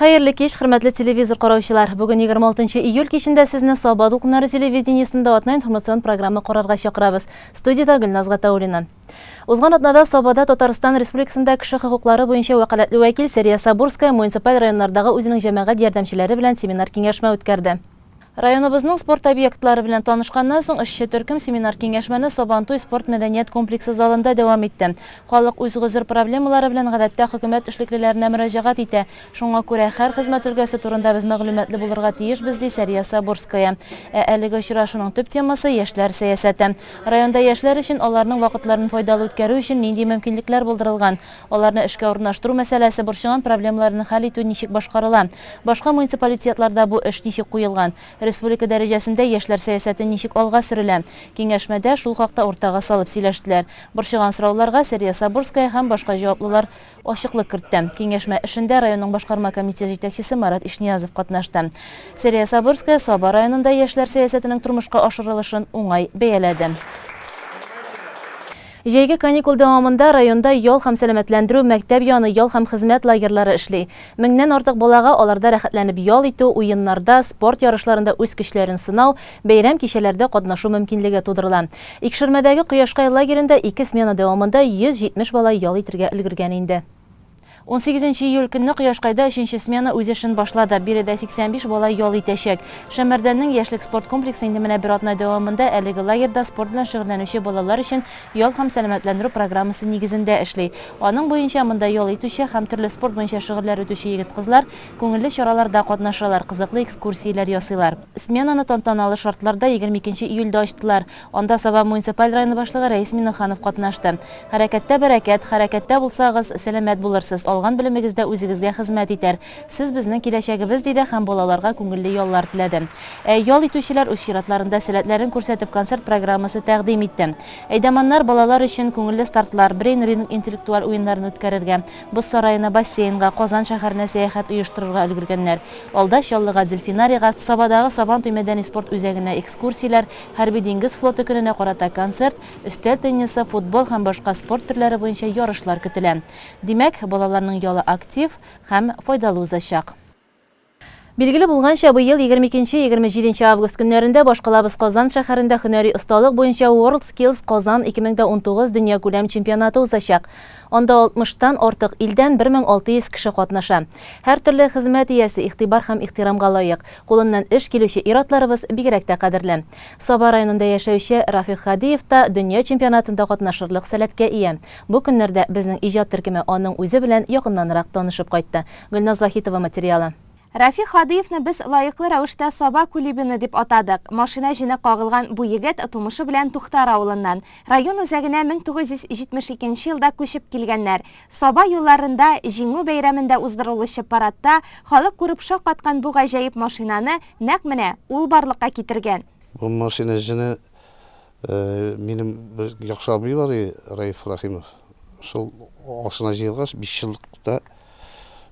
Хәерле кеш, хөрмәтле телевизор караучылар. Бүген 26 июль кичендә сезне Саба дулкыннары телевидениесендә атна информацион программа карарга чакырабыз. Студиядә Гөлназ Гатауллина. Узган атнада Сабада Татарстан Республикасында кеше хокуклары буенча вәкаләтле вәкил Сәрия Сабурская муниципаль районнардагы үзенең җәмәгать ярдәмчеләре белән семинар-киңәшмә үткәрде. Районыбызның спорт объектлары белән танышканнан соң, эшче төркем семинар-киңәшмәне Сабантуй спорт-мәдәният комплексы залында дәвам итте. Халык үз гозер-проблемалары белән гадәттә хөкүмәт эшлеклеләренә мөрәҗәгать итә. Шуңа күрә һәр хезмәт өлкәсе турында без мәгълүматлы булырга тиешбез, ди Сәрия Сабурская. Ә әлеге очрашуның төп темасы, яшьләр сәясәте. Районда яшьләр өчен аларның вакытларын файдалы үткәрү өчен нинди мөмкинлекләр булдырылган, аларны эшкә урнаштыру мәсьәләсе, борчыган проблемаларын хәл итү ничек башкарыла, башка муниципалитетларда бу эш ничек куелган, республика дәрәҗәсендә яшьләр сәясәте ничек алга сөрелә? Киңәшмәдә шул хакта уртага салып сөйләштеләр. Борчыган сорауларга Сәрия Сабурская һәм башка җаваплылар ачыклык кертте. Киңәшмә эшендә районның башкарма комитет җитәкчесе Марат Ишниязов катнашты. Сәрия Сабурская Саба районында яшьләр сәясәтенең тормышка ашырылышын уңай бәяләде. Җәйге каникул дәвамында районда ял һәм сәламәтләндерү, мәктәп яны ял һәм хезмәт лагерьлары эшли. Меңнән артык балага аларда рәхәтләнеп ял итү, уеннарда, спорт ярышларында үз көчләрен сынау, бәйрәм кичәләрдә катнашу мөмкинлеге тудырыла. Икшермәдәге Кояшкай лагеренда ике смена дәвамында 170 бала ял итергә өлгергән инде. Унсигезенче июль көнне Кояшкайда өченче смена үз эшен башлады. Биредә 85 бала ял итәчәк. Шәмәрдәннең Яшьлек спорт комплексы инде менә бер атна дәвамында әлеге лагерьда спорт белән шөгыльләнүче балалар өчен ял һәм сәламәтләндерү программасы нигезендә эшли. Аның буенча монда ял итүче һәм төрле спорт буенча шөгыльләр үтүче егет-кызлар күңелле чараларда катнашалар, кызыклы экскурсияләр ясыйлар. Сменаны тантаналы шартларда егерме икенче июльдә ачтылар. Анда Саба муниципаль районы башлыгы Рәис Миңнеханов катнашты. Хәрәкәттә бәрәкәт, хәрәкәттә булсагыз, сәламәт булырсыз, алган белемегез дә үзегезгә хезмәт итәр. Сез безнең киләчәгебез, диде һәм балаларга күңелле яллар теләде. Ә ял итүчеләр үз чиратларында сәләтләрен күрсәтеп концерт программасы тәкъдим итте. Әйдаманнар балалар өчен күңелле стартлар, брейн-ринг интеллектуаль уеннарын үткәрергә, Боз сараена, бассейнга, Казан шәһәренә сәяхәт оештырырга өлгергәннәр. Алда Чаллыга дельфинарийга, Сабадагы Сабан туй мәдәни-спорт үзәгенә экскурсияләр, Хәрби-диңгез флоты көненә карата концерт, өстәл теннисы, футбол һәм башка спорт төрләре буенча ярышлар көтелә. Димәк, балаларның ялы актив һәм файдалы узачак. Билгеле булганча, быел егерме икенче, егерме җиденче август көннәрендә башкалабыз Казан шәһәрендә һөнәри осталык буенча World Skills Kazan ике мең дә унтугыз дөньякүләм чемпионаты узачак. Анда алтмыштан артык илдән бер мең алты йөз кеше катнаша. Һәртөрле хезмәт иясе, игътибар һәм ихтирамга лаек, кулыннан эш килүче ир-атларыбыз бигрәк тә кадерле. Саба районында яшәүче Рафих Һадиев та дөнья чемпионатында катнашырлык сәләткә ия. Бу көннәрдә безнең иҗат төркеме аның үзе белән якыннанрак танышып кайтты. Гөлназ Вахитова материалы. Рафих Һадыевны без лаеклы рәвештә Саба Кулибины дип атадык. Машина җене кагылган бу егет тумышы белән Туктар авылыннан. Район үзәгенә 1972 нче елда күчеп килгәннәр. Саба юлларында Җиңү бәйрәмендә уздырылучы парадта халык күреп шаккаткан бу гаҗәеп машинаны нәкъ менә ул барлыкка китергән. Бу машина җене Минем бер яхшы абый бар, Раиф Рахимов. Шул ашына җыелгач, биш еллыкта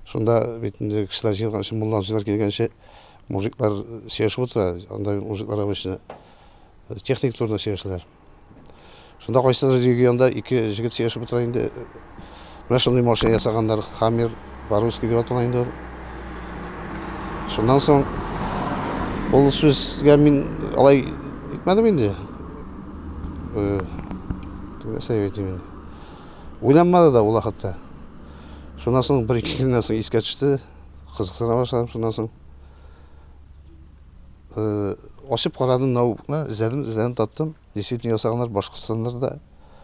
шунда бит инде кешеләр җыелганчы, мулланчылар килгәнче, мужиклар сөйләшеп утыра. Анда мужиклар обычно техник турында сөйләшәләр. Шунда кайсыдыр регионда ике җегет сөйләшеп утыра инде. Менә шундый машина ясаганнар, Хаммер по-русски дип атала инде ул. Шуннан соң ул сүзгә мин алай итмәдем инде. Э, Нәрсә дип әйтим инде. Уйланмады да ул хәтта. Шуннан соң бер ике көннән соң искә төште, кызыксына башладым шуннан соң. Э, ачып карадым ноутбукны, эзләдем, эзләдем таптым. Действительно ясаганнар Башкортстаннарда.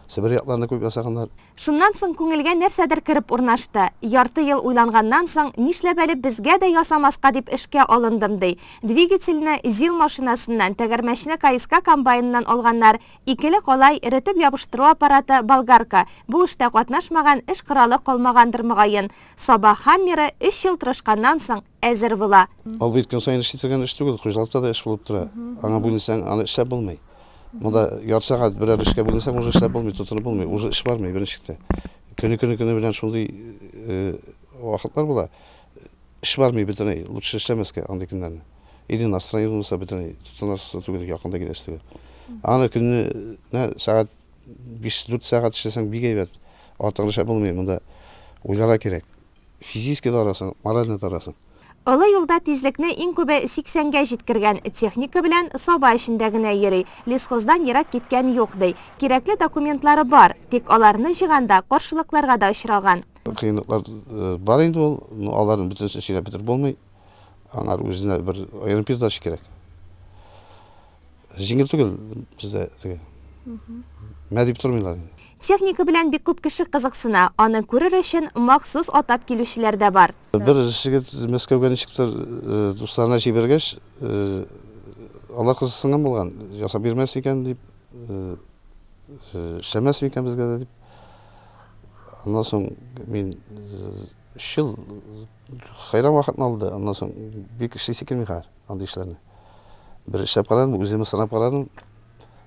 Себер якларында күп ясаганнар. Шуннан соң күңелгә нәрсәдер кереп урнашты. Ярты ел уйланганнан соң, нишләп әле безгә дә ясамаска дип эшкә алындым, ди. Двигательне ЗИЛ машинасыннан, тәгәрмәчне КСК комбайныннан алганнар, икеле калай, эретеп ябыштыру аппараты, болгарка. Бу эштә катнашмаган, эш коралы калмагандыр, мөгаен. Саба Хаммеры өч ел тырышканнан соң, әзер була. Ул бит көн саен эшли торган эш түгел, хуҗалыкта да эш булып тора. Аңа бүленсәң, аны эшләп булмый. Монда ярты сәгать берәр эшкә бүленсәң, уже эшләп булмый, тотынып булмый, уже эш бармый беренче чиктә. Көне көне көне белән шундый вакытлар була, эш бармый бөтенләй, лучше эшләмәскә андый көннәрне. Или настроение булмаса бөтенләй тотынасы түгел, якында киләсе түгел. Аны көненә сәгать 5-4 сәгать эшләсәң бик әйбәт. Артыгын эшләп булмый, монда уйларга кирәк. Физически тарасың, моральный тарасың. Олы юлда тизлекне иң күбе 80 гә җиткергән, техника белән саба эчендә генә йөри, лесхоздан ерак киткән юк, ди. Кирәкле документлары бар, тик аларны җыйганда каршылыкларга да очраган. Кыенлыклар бар инде ул, но аларны бөтенесен сөйләп бетереп булмый. Аннары үзенә бер аерым передача кирәк. Җиңел түгел бездә теге. Мә дип тормыйлар. Техника белән бик күп кеше кызыксына, аны күрер өчен махсус атап килүчеләр дә бар. Бер җегет Мәскәүгә ничектер дусларына җибәргәч, алар кызыксынган булган, ясап бирмәс икән дип, эшләмәс микән безгә дә дип. Аннан соң мин өч ел хәйран вакытны алды, аннан соң бик эшлисе килми хәзер андый эшләрне. Бер эшләп карадым, үзем сынап карадым.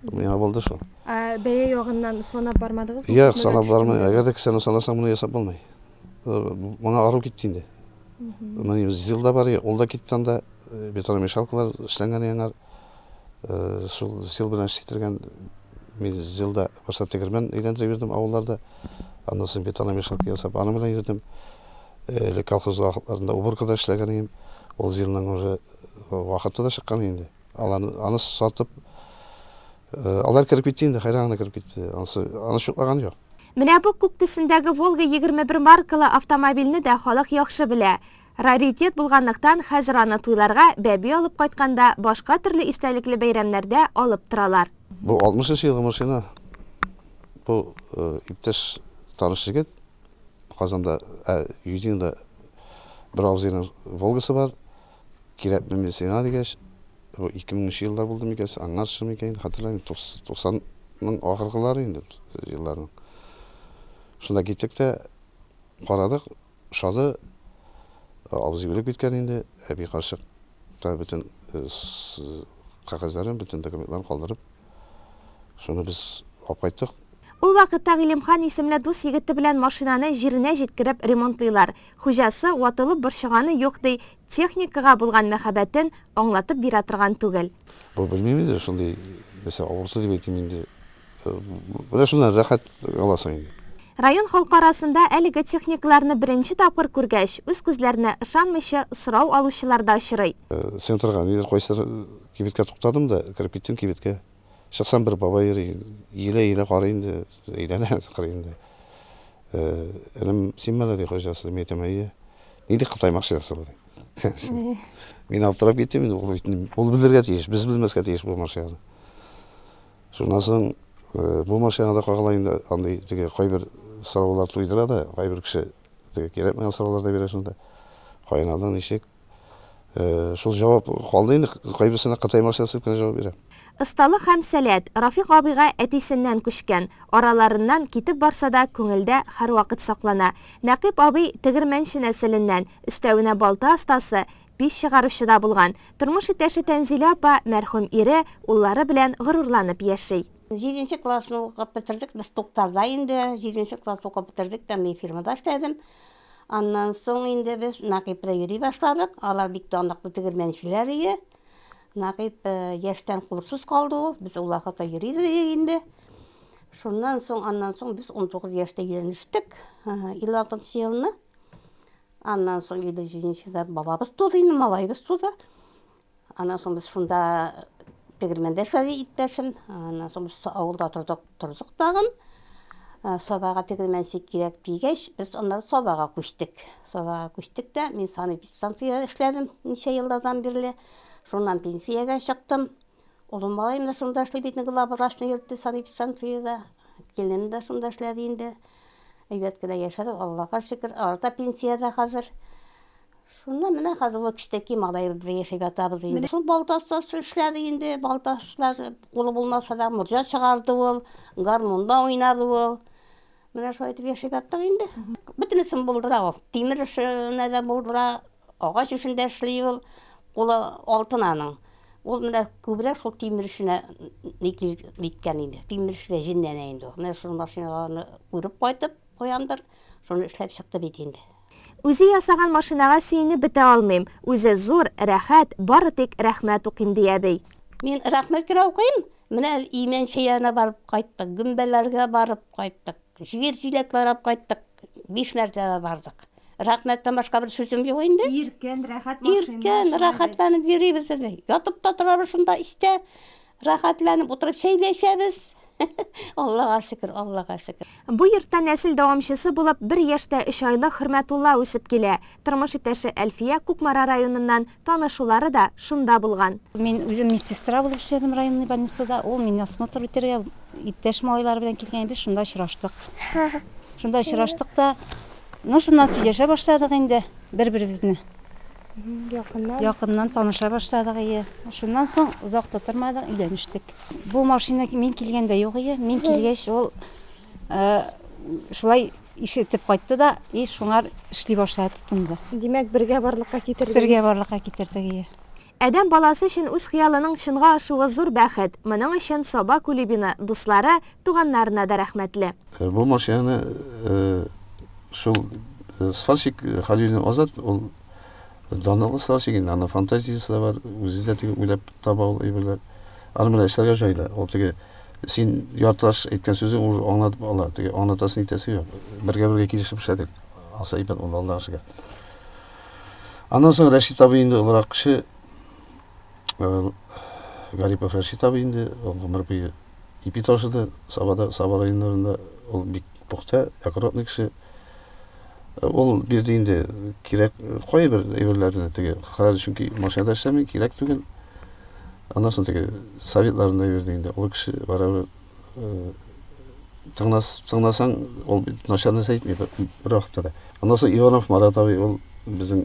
Миңа булды шул. Ә бәя ягыннан санап бармадыгыз? Юк, санап бармый. Әгәр дә кесәне санасаң, моны ясап булмый. Моңа ару китте инде. Мин зил да бар, ул да китте анда. Бетономешалкалар эшләнгән яңар. Шул зил белән эшләтергән. Мин зилда башта тегермән әйләндереп йөрдем авылларда. Аннан соң бетономешалка ясап, аның белән йөрдем. Элек колхоз вакытларында уборкада эшләгән идем. Ул җилнең уже вакыты да чыккан инде. Алар аны сатып алар кереп китте инде, хәйран гына кереп китте. Анысы аны чуклаган юк. Менә бу күк төсендәге Волга 21 маркалы автомобильне дә халык яхшы белә. Раритет булганлыктан, хәзер аны туйларга, бәби алып кайтканда, башка төрле истәлекле бәйрәмнәрдә алып торалар. Бу 60 нчы елгы машина. Бу иптәш таныш җегет Казанда, ә, Юдинда бер абзыйның Волгасы бар, кирәкме мин сиңа, дигәч, бу ике меңенче еллар булды микән, аңарчы микән, инде хәтерләмим, туксанның ахыргылары инде елларның. Шунда киттек тә карадык, ошады, абзый үлеп киткән инде, әби карчык та бөтен кәгазьләрен, бөтен документларын калдырып, Шуны без алып кайттык. Ул вакытта Гыйлемхан исемле дус егете белән машинаны җиренә җиткереп ремонтлыйлар. Хуҗасы ватылып борчыганы юк, ди, техникага булган мәхәббәтен аңлатып бирә торган түгел. Бу белмим инде, шундый нәрсә авырту дип әйтим инде. Менә шуннан рәхәт аласың инде. Район халкы арасында әлеге техникаларны беренче тапкыр күргәч, үз күзләренә ышанмыйча сорау алучылар да очрый. Центрга ниләр кайсылар Кибеткә туктадым да, кереп киттем кибеткә. Чыксам, бер бабай йөри. Иелә-иелә карый инде, әйләнә карый инде. Энем, синме әле, ди, хуҗасы? Мин әйтәм, әйе. Ни дип кытаймакчы ясы бу, ди. Мин аптырап киттем инде, ул бит ул белергә тиеш, без белмәскә тиеш бу машинаны. Шуннан соң бу машинада кагыла инде андый теге кайбер сораулар туйдыра да, кайбер кеше теге кирәкмәгән сораулар да бирә шунда. Кайнадың ничек? Шул җавап калды инде, кайберсенә Кытай машинасы дип кенә җавап бирә. Осталык һәм сәләт, Рафик абыйга әтисеннән күчкән. Араларыннан китеп барса да, күңелдә һәрвакыт саклана. Нәкыйп абый тегермәнче нәселеннән, өстәвенә балта остасы, пич чыгаручы да булган. Тормыш иптәше Тәнзилә апа мәрхүм ире, уллары белән горурланып яши. Җиденче классны укып бетердек, без Тукталда инде, җиденче класс укып бетердек тә, мин фирмада эшләдем. Аннан соң инде без Нәкыйпрә йөри башладык. Алар бик данлыклы тегермәнчеләр иде. Нәкыйп э, яшьтән кулсыз калды ул. Без ул вакытта йөри идек инде. Шуннан соң, аннан соң без 19 яшьтә өйләнештек. 56 елны. Аннан соң 57 елда бабабыз туды, инде малаебыз туды. Аннан соң без шунда тегермәндә эшләде иптәшем. Аннан соң без авылда тордык, тордык тагын. Ә, Сабага тегермәнче кирәк дигәч, без аннары Сабага күчтек. Сабага күчтек тә, мин санэпидстанциядә эшләдем ничә еллардан бирле. Шуннан пенсиягә чыктым. Улым малаем да шунда эшли бит, главврачны йөртте санэпидстанциядә. Киленем дә шунда эшләде инде. Әйбәт кенә яшәдек, Аллага шөкер. Алар да пенсиядә хәзер. Шунда менә хәзер ул кечтәки малаебызда яшәп ятабыз инде. Шул Балтаста эшләде инде, Балташта кулы булмаса да, морҗа чыгарды ул, гармунда уйнады ул. Менә шулай итеп яшәп яттык инде. Бөтенесен булдыра ул. Тимер эшенә дә булдыра, агач эшен дә эшли ул. Кулы алтын аның. Ул менә күбрәк шул тимер эшенә ни кирәк ниткән инде. Тимер эшенә җенләнә инде ул. Менә шул машиналарны күреп кайтып, Куяндыр, шуны эшләп чыкты бит инде. Үзе ясаган машинага сөенеп бетә алмыйм, үзе зур, рәхәт, бары тик рәхмәт укыйм, ди әби. Мин рәхмәт кенә укыйм. Менә Имәнче янына барып кайттык, Гөмбәләргә барып кайттык, җир җиләк карап кайттык, биш мәртәбә бардык. Рәхмәттән башка бер сүзем юк инде. Иркен, рәхәт машина. Иркен, рәхәтләнеп йөрибез инде. Ятып та торабыз шунда, истә. Рәхәтләнеп утырып сөйләшәбез. Аллага шөкер, Аллага шөкер. Бу йортта нәсел дәвамчысы булып бер яшь тә өч айлык Хөрмәтулла үсеп килә. Тормыш иптәше Әлфия, Кукмара районыннан, танышулары да шунда булган. Мин үзем медсестра булып эшләдем районный больницада. Ул мине осмотр үтәргә иптәш малайлары белән килгән, без шунда очраштык. Шунда очраштык та, ну шуннан сөйләшә башладык инде бер-беребезне. Якыннан якыннан таныша башладык ие. Шуннан соң озак та тормадык, өйләнештек. Бу машина мин килгәндә юк ие. Мин килгәч, ул шулай ишетеп кайтты да, и шуңар эшли башлады, тотынды. Димәк, бергә барлыкка китердегез. Бергә барлыкка китердек ие. Адәм баласы өчен үз хыялының чынга ашуы зур бәхет. Моның өчен Саба Кулибина, дуслары, туганнарына да рәхмәтле. Бу машинаны шул сварщик Халилин Азат, ул данлыклы сварщик инде, аны фантазиясе дә бар, үзе дә теге уйлап таба ул әйберләр. Аны менә эшләргә җайда, ул теге син яртылаш әйткән сүзең уже аңлатып ала, теге аңлатасын итәсе юк. Бергә-бергә килешеп эшләдек. Аса ибән ул Аллага шөкер. Аннан соң Рәшит абый инде олырак кеше, Гарипов Рәшит абый инде, ул гомер буе Ипи ташы да Сабада, Саба районнарында ул бик пөхтә, аккуратный кеше. Ул бирде инде кирәк кайбер әйберләрне теге. Хәзер чөнки машинада эшләми, кирәк түгел. Аннан соң теге советларын да бирде инде. Ул кеше барыбер э, тыңлас, тыңласаң, ул бит начар нәрсә әйтми бер, бер вакытта да. Аннан соң Иванов Марат абый ул безнең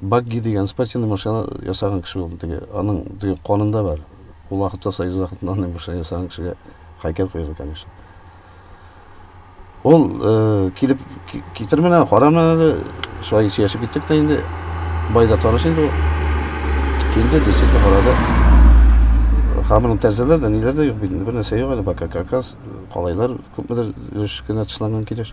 Багги дигән спортивный машина ясаган кеше булды теге. Аның теге канында бар. Ул вакытта Союз вакытында андый машина ясаган кешегә хайкәл куелды, конечно. Ул э, килеп китер менә, кара менә әле, шулай сөйләшеп киттек тә инде. Байда таныш инде ул. Килде, действительно карады. Хамының тәрзәләр дә, ниләр дә юк бит, бер нәрсә юк әле, пока как раз калайлар күпмедер өлеш кенә тышланган килеш.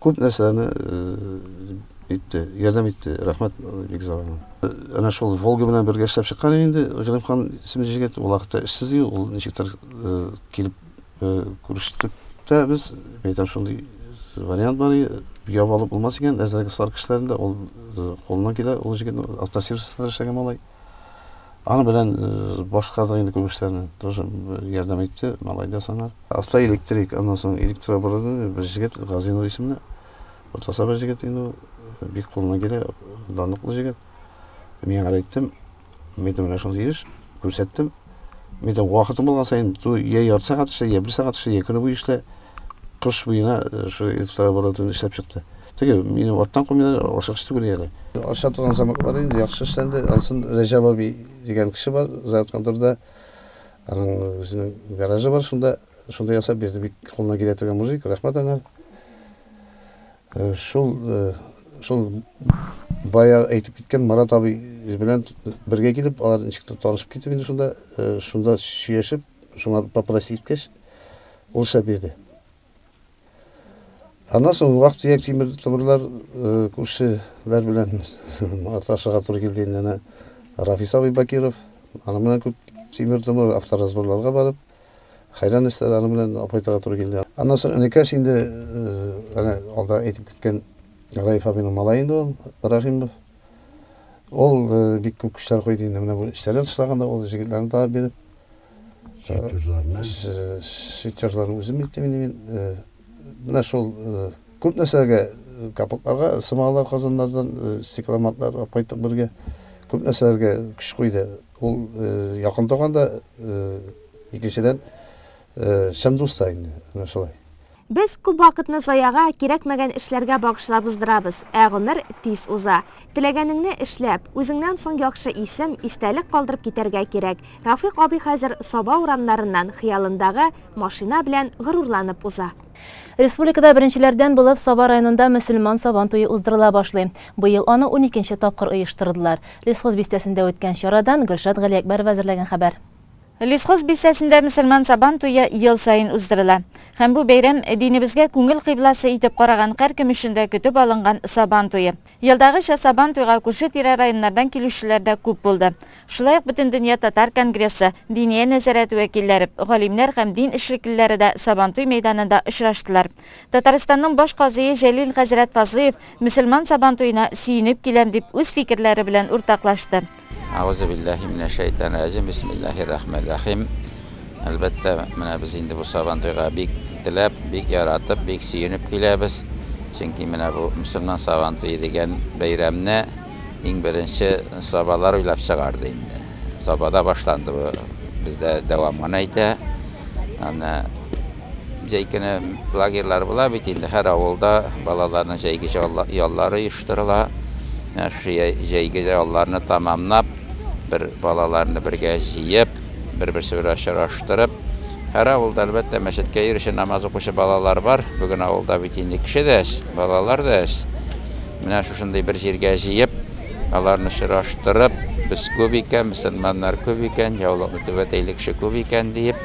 Күп нәрсәләрне итте, ярдәм итте. Рәхмәт бик зур аңа. Әнә шул Волга белән бергә эшләп чыккан иде инде Гыйлемхан исемле җегет. Ул вакытта эшсез иде, ул ничектер килеп күрештек тә без. Әйтәм, шундый вариант бар иде, ябалып булмас икән, әзрәк слар кешеләрендә ул кулыннан килә, ул җегетнең автосервисында эшләгән малай. Аны белән э, башка да инде күп эшләрне тоже ярдәм итте, малай да саңар. Аста электрик, аннан соң электрооборудование, бер җегет, Газинов исемле. Уртаса бер җегет инде ул, бик кулына килә, данлыклы җегет. Мин аңа әйттем, мин менә шундый эш, күрсәттем. Мин дә вакытым булган саен, ту я ярты сәгать эшлә, я бер сәгать эшлә, я көне буе эшлә. Кыш буена э, шул электрооборудование эшләп чыкты. Теге, мине арттан күмәләр, ашыгыч түгел әле. Аша торган замаклары инде яхшы эшләнде. Ансын Рәҗәп абый дигән кеше бар, Зәят конторда. Аның үзенең гаражы бар, шунда шунда ясап бирде. Бик кулына килә торган мужик, рәхмәт аңа. Э, шул э, шул бая әйтеп киткән Марат абый белән бергә килеп, алар ничектер танышып китеп инде шунда, э, шунда сөйләшеп, шуңа попросить иткәч, ул шәп бирде. Аннан соң вак тияк тимер тубырлар э, күршеләр белән аташырга туры килде инде әнә Рафис абый Бакиров. Аны менә күп тимер тубыр авторазборларга барып, хәйран эшләр аны белән апайтырга туры килде. Аннан соң энекәш инде әнә э, алда әйтеп киткән Раиф абыйның малае инде ул Рахимов. Ул э, бик күп көчләр куйды инде менә бу эшләрен тышлаганда ул җегетләрне табып биреп. Сутюжларны. Сутюжларны үзем илтим инде мин. Менә шул күп нәрсәләргә капотларга сымалар казаннардан стекломатлар алып кайттык бергә. Күп нәрсәләргә көч куйды. Ул якын туган да, икенчедән чын дус та инде. Менә шулай. Без күп вакытны заяга, кирәкмәгән эшләргә багышлап уздырабыз, ә гомер тиз уза. Теләгәнеңне эшләп, үзеңнән соң яхшы исем, истәлек калдырып китәргә кирәк. Рафыйк абый хәзер Саба урамнарыннан хыялындагы машина белән горурланып уза. Республикада беренчеләрдән булып Саба районында мөселман Сабан туе уздырыла башлый. Быел аны уникенче тапкыр оештырдылар. Лесхоз бистәсендә үткән чарадан Гөлшат Галиәкбәрова әзерләгән хәбәр. Лисхоз бистәсендә мөселман Сабан туе ел саен уздырыла. Һәм бу бәйрәм, динебезгә күңел кыйбласы итеп караган һәркем өчен дә көтеп алынган Сабан туе. Елдагыча Сабан туйга күрше-тирә районнардан килүчеләр дә күп булды. Шулай ук Бөтендөнья татар конгрессы, Диния нәзарәте вәкилләре, галимнәр һәм дин эшлеклеләре дә Сабантуй мәйданында очраштылар. Татарстанның баш казые Җәлил хәзрәт Фазлыев мөселман Сабантуена сөенеп киләм дип үз фикерләре белән уртаклашты. Әгузубилләһи минә шәйтан рәҗим, бисмилләһи рахмән рәхим. Әлбәттә, менә без инде бу сабантуйга бик теләп, бик яратып, бик сөенеп киләбез. Чөнки менә бу мөселман сабантуе дигән бәйрәмне иң беренче сабалар уйлап чыгарды инде. Сабада башланды бу, бездә дәвам гына итә. Аны Җәй көне лагерьлар була бит инде, һәр авылда балаларның җәйге яллары оештырыла. Менә шушы җәйге ялларны тәмамлап, бер балаларны бергә җыеп, бер-берсе белән очраштырып, һәр авылда, әлбәттә, мәчеткә йөрүче, намаз укучы балалар бар. Бүген авылда бит инде кеше дә әз, балалар да әз. Менә шушындый бер җиргә җыеп, аларны очраштырып, без күп икән, мөселманнар күп икән, яулыкны түбәтәйле кеше күп икән диеп,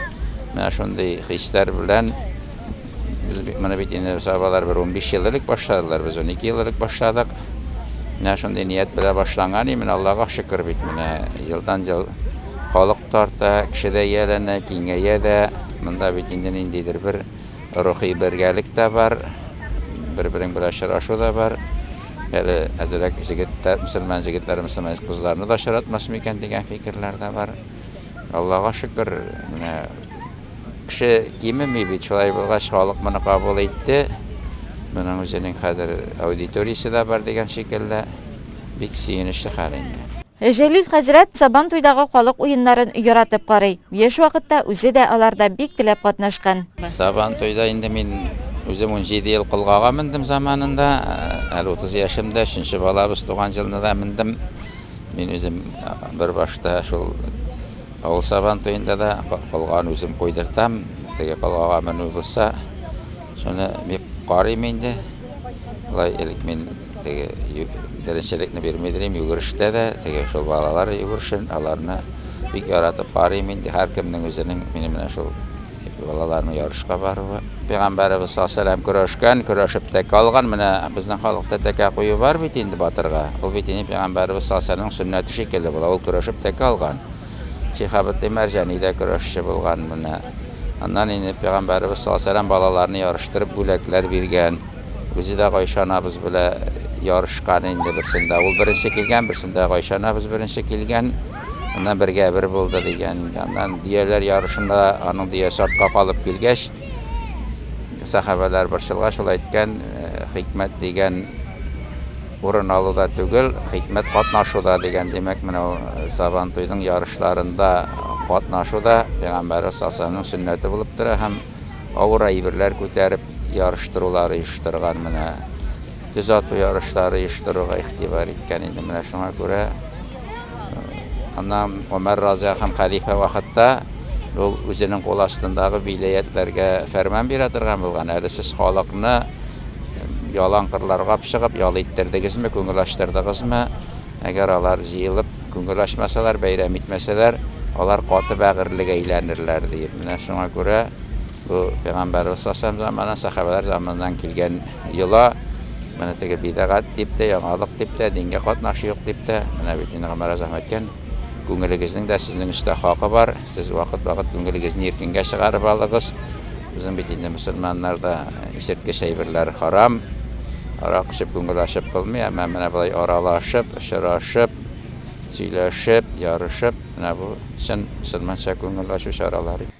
Менә шундый хисләр белән без бит моны бит инде сабалар бер 15 ел элек башладылар, без 12 ел элек башладык. Менә шундый ният белән башланган, и менә Аллага шөкер бит менә елдан-ел халык тарта, кеше дә ияләнә, киңәя дә. Монда бит инде ниндидер бер рухи бергәлек тә бар, бер-берең белән очрашу да бар. Әле әзрәк җегетләр, мөселман җегетләр, мөселман кызларны да очратмас микән дигән фикерләр дә бар. Аллага шөкер, менә кеше кимеми бит, шулай булгач, халык моны кабул итте. Моның үзенең хәзер аудиториясе дә бар дигән шикелле. Бик сөенечле хәл инде. Җәлил хәзрәт Сабан туйдагы халык уеннарын яратып карый. Яшь вакытта үзе дә аларда бик теләп катнашкан. Сабан туйда инде мин үзем унҗиде ел колгага мендем заманында. Әле утыз яшемдә, өченче балабыз туган җылны да мендем. Мин үзем бер башта шул авыл сабан туенда да колганы үзем куйдыртам. Теге колгага менү булса, шуны бик карыйм инде. Алай элек мин теге беренчелекне бирмидерим, йөгерештә дә, теге шул балалар йөгерешен, аларны бик яратып карыйм инде. Һәркемнең үзенең минем менә шул Чөнки балаларның ярышка баруы, пәйгамбәребез саллаллаһу алейһи ва сәлләм көрәшкән, көрәшеп тә калган. Менә безнең халыкта тәкә кую бар бит инде батырга. Ул бит инде пәйгамбәребез саллаллаһу алейһи ва сәлләмнең сөннәте шикелле була, ул көрәшеп тә калган. Шиһабетдин Мәрҗани дә көрәшче булган. Менә аннан инде пәйгамбәребез саллаллаһу алейһи ва сәлләм балаларны ярыштырып бүләкләр биргән. Үзе дә Гайшә анабыз белән ярышкан инде берсендә. Ул беренче килгән, берсендә Гайшә анабыз беренче килгән. Ана бергә бер булды дигән инде. Аннан дөяләр ярышында аның дөясе артка калып килгәч, сахабәләр борчылгач шул әйткән, хикмәт дигән урын алуда түгел, хикмәт катнашуда дигән. Димәк, менә ул Сабан туйның ярышларында катнашу да пәйгамбәребез сасаның сөннәте булып тора һәм авыр әйберләр күтәреп ярыштырулар оештырган менә. Төз ату ярышлары оештыруга игътибар иткән иде. Менә шуңа күрә аннан Гомәр Разый һәм хәлифә вакытта ул үзенең кул астындагы виләятләргә фәрман бирә торган булган. Әле сез халыкны ялан кырларга чыгып ял иттердегезме, күңел ачтырдыгызмы? Әгәр алар җыелып күңел ачмасалар, бәйрәм итмәсәләр, алар каты бәгырьлегә әйләнерләр, ди. Менә шуңа күрә бу пәйгамбәребез сасам заманы, сахабәләр заманыннан килгән. Йола, менә теге бидагат дип тә, яңалык дип тә, дингә катнашы юк дип тә, менә бит инде Гомәр Азам әйткән, күңелегезнең дә сезнең өстә хакы бар, сез вакыт-вакыт күңелегезне иркенгә чыгарып алыгыз. Безнең бит инде мөселманнарда исерткеч әйберләр харам. Арак эчеп күңел ачып булмый, әмма менә болай аралашып, очрашып, сөйләшеп, ярышып, менә бу чын мөселманча күңел ачу чаралары.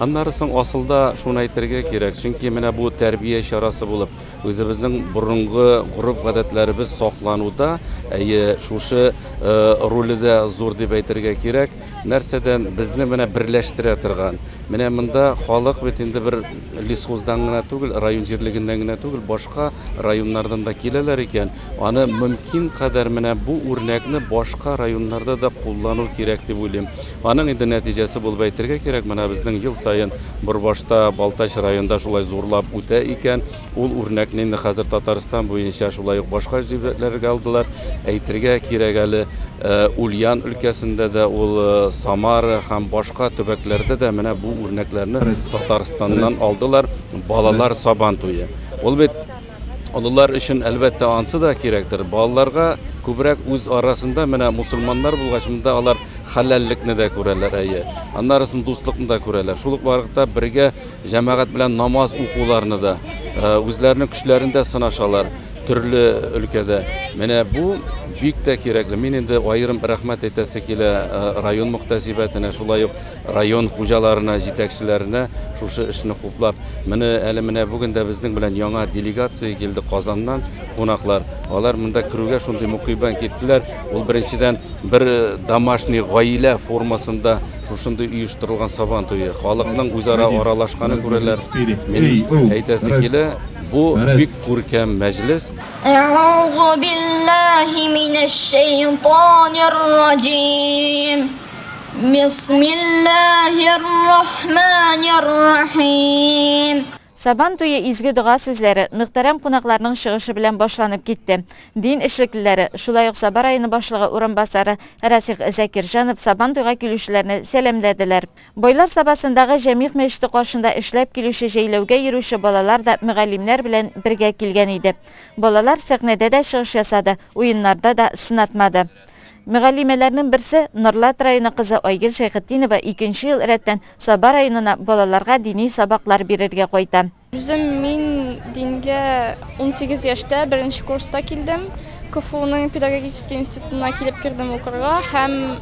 Аннары соң асылда шуны әйтергә кирәк, чөнки менә бу тәрбия чарасы булып, үзебезнең борынгы гореф-гадәтләребез саклануда, әйе, шушы роле дә зур дип әйтергә кирәк. Нәрсәдән безне менә берләштерә торган? Менә монда халык бит инде бер лесхоздан гына түгел, район җирлегеннән генә түгел, башка районнардан да киләләр икән. Аны мөмкин кадәр менә бу үрнәкне башка районнарда да куллану кирәк дип уйлыйм. Аның инде нәтиҗәсе булып әйтергә кирәк, менә безнең ел саен Борбашта, Балтач районында шулай зурлап үтә икән. Ул үрнәкне инде хәзер Татарстан буенча, шулай ук башка җирләргә алдылар. Әйтергә кирәк әле, Ульян өлкәсендә дә ул, Самара һәм башка төбәкләрдә дә менә бу үрнәкләрне Татарстаннан алдылар. Балалар Сабан туе, ул бит. Олылар өчен, әлбәттә, ансы да кирәктер. Балаларга күбрәк үз арасында, менә мусульманнар булгач, монда алар хәләллекне дә күрәләр, әйе, аннарысын дуслыкны да күрәләр. Шул ук вакытта бергә җәмәгать белән намаз укуларны да, үзләренең көчләрен дә сынашалар төрле өлкәдә. Менә бу бик тә кирәкле. Мин инде аерым рәхмәт әйтәсе килә район мөхтәсибәтенә, шулай ук Район хуҗаларына, җитәкчеләренә шушы эшне хуплап, менә әле менә бүген дә безнең белән яңа делегация килде Казаннан, кунаклар. Алар монда керүгә шундый мукыйбан киттеләр. Ул беренчедән бер домашний гаилә формасында шушындый оештырылган Сабан туе. Халыкның үзара аралашканын күрәләр. Минем әйтәсе килә, бу бик күркәм мәҗлес. Әгъузубиллаһи минәшшәйтанирраҗиим. Бисмиллаһир-рахманир-рахим. Сабан туе изге дога сүзләре, мөхтәрәм кунакларның чыгышы белән башланып китте. Дин эшлеклеләре, шулай ук Саба районы башлыгы урынбасары Расих Закирҗанов Сабан туйга килүчеләрне сәламләделәр. Бойлар Сабасындагы Җәмигъ мәчете каршында эшләп килүче җәйләүгә йөрүче балалар да мөгаллимнәр белән бергә килгән иде. Балалар сәхнәдә дә чыгыш ясады, уеннарда да сынатмады. Мөгаллимәләрнең берсе, Норлат районы кызы Айгөл Шәйхетдинова икенче ел рәттән Саба районына балаларга дини сабаклар бирергә кайта. Үзем мин дингә унсигез яшьтә, беренче курста килдем. КФУның педагогический институтына килеп кердем укырга һәм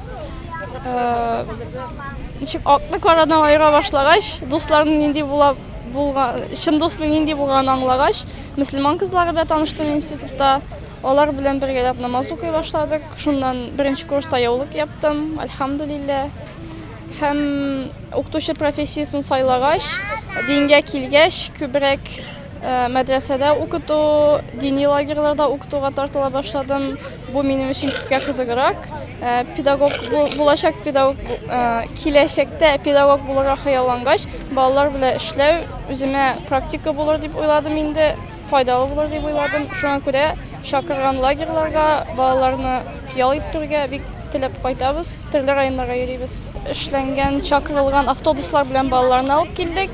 ничек акны карадан аера башлагач, дусларның нинди була булган, чын дусның нинди булганын аңлагач, мөселман кызлары белән таныштым институтта. Алар белән бергәләп намаз укый башладык. Шуннан беренче курста яулык яптым, альхамдулилләһ. Һәм укытучы профессиясен сайлагач, дингә килгәч, күбрәк мәдрәсәдә укыту, дини лагерьларда укытуга тартыла башладым. Бу минем өчен күпкә кызыграк. Педагог булачак педагог киләчәктә педагог булырга хыяллангач, балалар белән эшләү үземә практика булыр дип уйладым инде. Файдалы булыр дип уйладым. Шуңа күрә чакырган лагерьларга балаларны ял иттерергә бик теләп кайтабыз. Төрле районнарга йөрибез. Эшләнгән, чакырылган автобуслар белән балаларны алып килдек.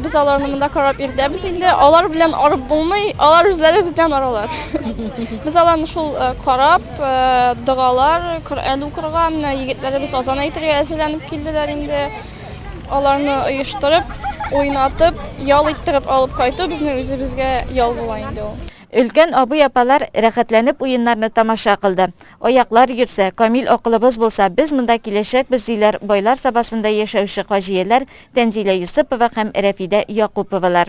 Без аларны монда карап йөртәбез инде. Алар белән арып булмый, алар үзләре бездән аралар. Без аларны шул карап, догалар, Коръән укырга, менә егетләребез азан әйтергә әзерләнеп килделәр инде. Аларны оештырып, уйнатып, ял иттереп алып кайту безнең үзебезгә ял була инде ул. Өлкән абый-апалар рәхәтләнеп уеннарны тамаша кылды. Аяклар йөрсә, камил акылыбыз булса, без монда киләчәкбез, диләр Байлар Сабасында яшәүче хаҗияләр Тәнзилә Йосыпова һәм Рәфидә Якуповалар.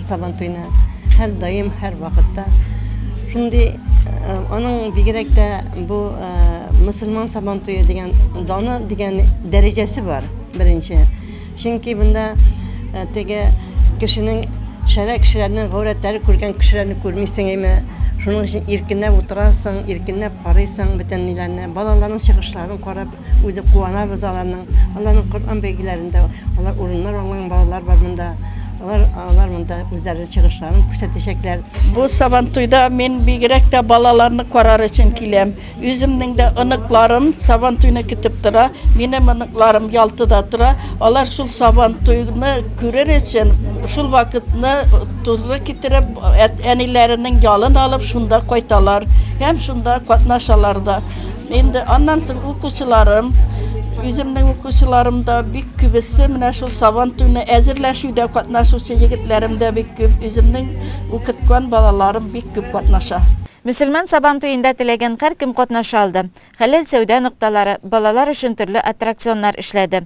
Сабантуйны һәрдаим, һәрвакытта шундый э, аның бигрәк тә бу э, мөселман сабантуе дигән даны дигән дәрәҗәсе бар беренче. Чөнки монда э, теге кешенең шәрә кешеләрнең гаурәтләре күргән кешеләрне күрмисең әйме? Шуның өчен иркенләп утырасың, иркенләп карыйсың бөтен ниләрне, балаларның чыгышларын карап Үзе куанабыз аларның, аларның Коръән бәйгеләрендә алар урыннар алган балалар бар монда. Алар алар монда үзләре чыгышларын күрсәтәчәкләр. Бу Сабантуйда мин бигрәк тә балаларны карар өчен киләм. Үземнең дә оныкларым Сабантуйны көтеп тора. Минем оныкларым Ялтыда тора. Алар шул Сабантуйны күрер өчен, шул вакытны туры китереп, әниләренең ялын алып, шунда кайталар һәм шунда катнашалар да. Инде аннан соң укучыларым, үземнең укучыларым да бик күбесе менә шул сабан туйны әзерләшүдә катнашучы егетләрем дә бик күп, үземнең укыткан балаларым бик күп катнаша. Мөселман сабан туенда теләгән һәркем катнаша алды. Хәләл сәүдә нокталары, балалар өчен төрле аттракционнар эшләде.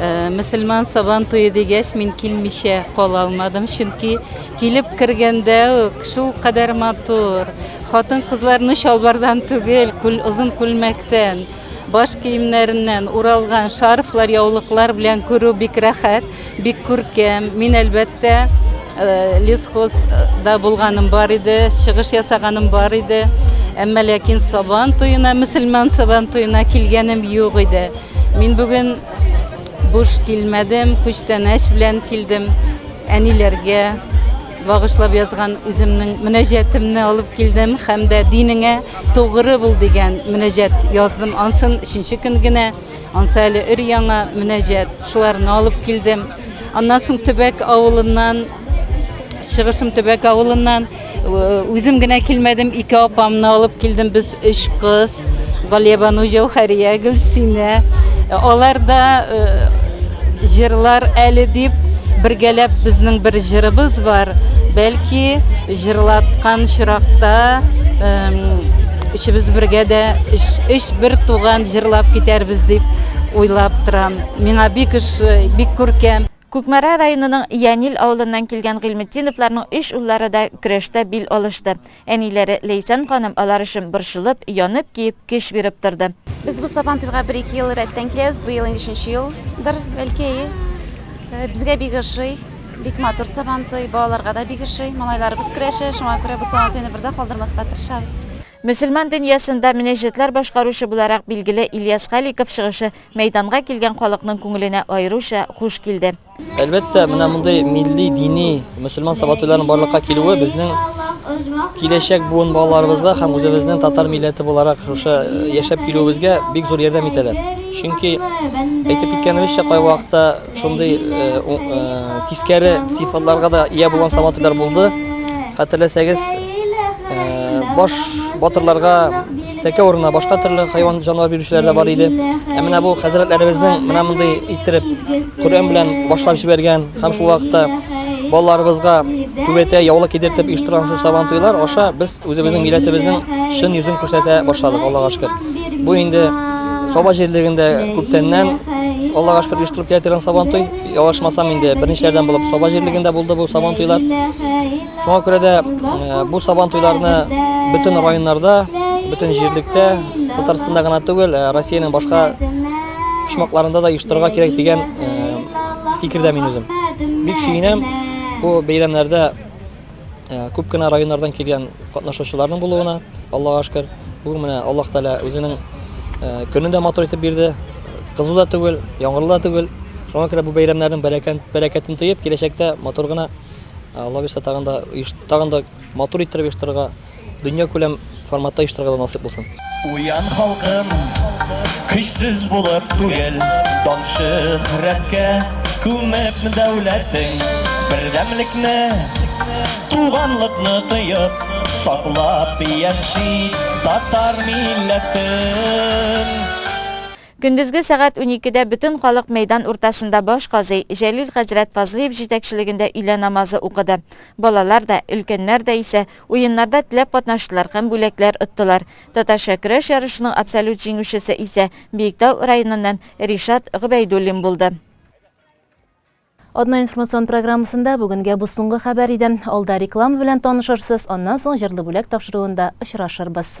Э, мөселман сабан туе дигәч мин килмичә кала алмадым чөнки килеп кергәндә үк шул кадәр матур хатын кызларны чалбардан түгел күл озын күлмәктән баш киемнәреннән уралган шарфлар яулыклар белән күрү бик рәхәт бик күркәм мин әлбәттә э, лесхозда булганым бар иде чыгыш ясаганым бар иде әмма ләкин сабан туена мөселман сабан туена килгәнем юк иде Мин бүген буш килмәдем, күчтәнәч белән килдем. Әниләргә багышлап язган үземнең мөнәҗәтемне алып килдем һәм дә динеңә тугры бул дигән мөнәҗәт яздым. Ансын өченче көн генә, ансы әле өр-яңа мөнәҗәт. Шуларны алып килдем. Аннан соң Төбәк авылыннан Чыгышым Төбәк авылыннан. Үзем генә килмәдем, ике апамны алып килдем. Без өч кыз, Галиябану, Җәүхәрия, Гөлсинә. Алар да җырлар әле дип бергәләп безнең бер җырыбыз бар. Бәлки җырлаткан чиракта өчебез бергә дә өч бер туган җырлап китәрбез дип уйлап торам. Миңа бик ошый, бик күркәм. Кукмара районының Янил авылыннан килгән Гыйльметдиновларның өч уллары да көрәштә бил алышты. Әниләре Ләйсән ханым алар өчен борчылып, янып, көеп, көч биреп торды. Без бу Сабантуйга бер-ике ел рәттән киләбез, быел инде өченче елдыр, бәлки, әйе. Безгә бик ошый, бик матур Сабантуй, балаларга да бик ошый. Малайларыбыз көрәшә, шуңа күрә бу Сабантуйны бер дә калдырмаска тырышабыз. Мөселман дөньясында мөнәҗәтләр башкаручы буларак билгеле Ильяс Халиков чыгышы мәйданга килгән халыкның күңеленә аеруча хуш килде. Әлбәттә, менә мондый милли, дини, мөселман сабатуйларның барлыкка килүе безнең киләчәк буын балаларыбызга һәм үзебезнең татар милләте буларак шушы яшәп килүебезгә бик зур ярдәм итәләр. Чөнки, әйтеп киткәнебезчә, кайвакытта Шундый тискәре сыйфатларга да ия булган Сабантуйлар булды. Хәтерләсәгез, баш батырларга тәкә урынына башка төрле хайван җанвар бирүчеләр дә бар иде. Ә менә бу хәзрәтләребезнең менә мондый иттереп Коръән белән башлап җибәргән һәм шул вакытта балаларыбызга түбәтәй яулык кидертеп оештырган шул сабан туйлар аша без Үзебезнең милләтебезнең чын йөзен күрсәтә башладык, Аллага шөкер. Бу инде Саба җирлегендә күптәннән Аллага шөкер оештырып килә торган Сабантуй. Ялгышмасам инде берничәдән булып Саба җирлегендә булды бу Сабантуйлар. Шуңа күрә дә э, бу Сабантуйларны бөтен районнарда, бөтен җирлектә, Татарстанда гына түгел, э, Россиянең башка почмакларында да оештырырга кирәк дигән э, фикердә мин үзем. Бик сөенәм бу бәйрәмнәрдә Ә, күп кенә районнардан килгән катнашучыларның булуына, Аллага шөкер. Бүген менә Аллаһ Тәгалә үзенең ә, көнен дә матур итеп бирде. Кызу да түгел, яңгырлы да түгел. Шуңа күрә бу бәйрәмнәрнең бәрәкәт, бәрәкәтен тоеп, киләчәктә матур гына, Алла бирса, тагын да оеш, тагын да матур иттереп оештырырга Дөньякүләм форматта оештырырга насыйп булсын. Уян халкым, көчсез булып түгел, дан шөһрәткә күмеп дәүләтең. Бердәмлекне, туганлыкны тоеп, саклап яши татар милләтен. Көндезге сәгать уникедә бөтен халык мәйдан уртасында баш казый Җәлил хәзрәт Фазлыев җитәкчелегендә өйлә намазы укыды. Балалар да, өлкәннәр дә исә Уеннарда теләп катнаштылар һәм бүләкләр оттылар. Татарча көрәш ярышының абсолют җиңүчесе исә Биектау районыннан Ришат Гобәйдуллин булды. Атна информацион программасында бүгенгә бу соңгы хәбәр иде. Алда реклама белән танышырсыз, аннан соң җырлы бүләк тапшыруында очрашырбыз.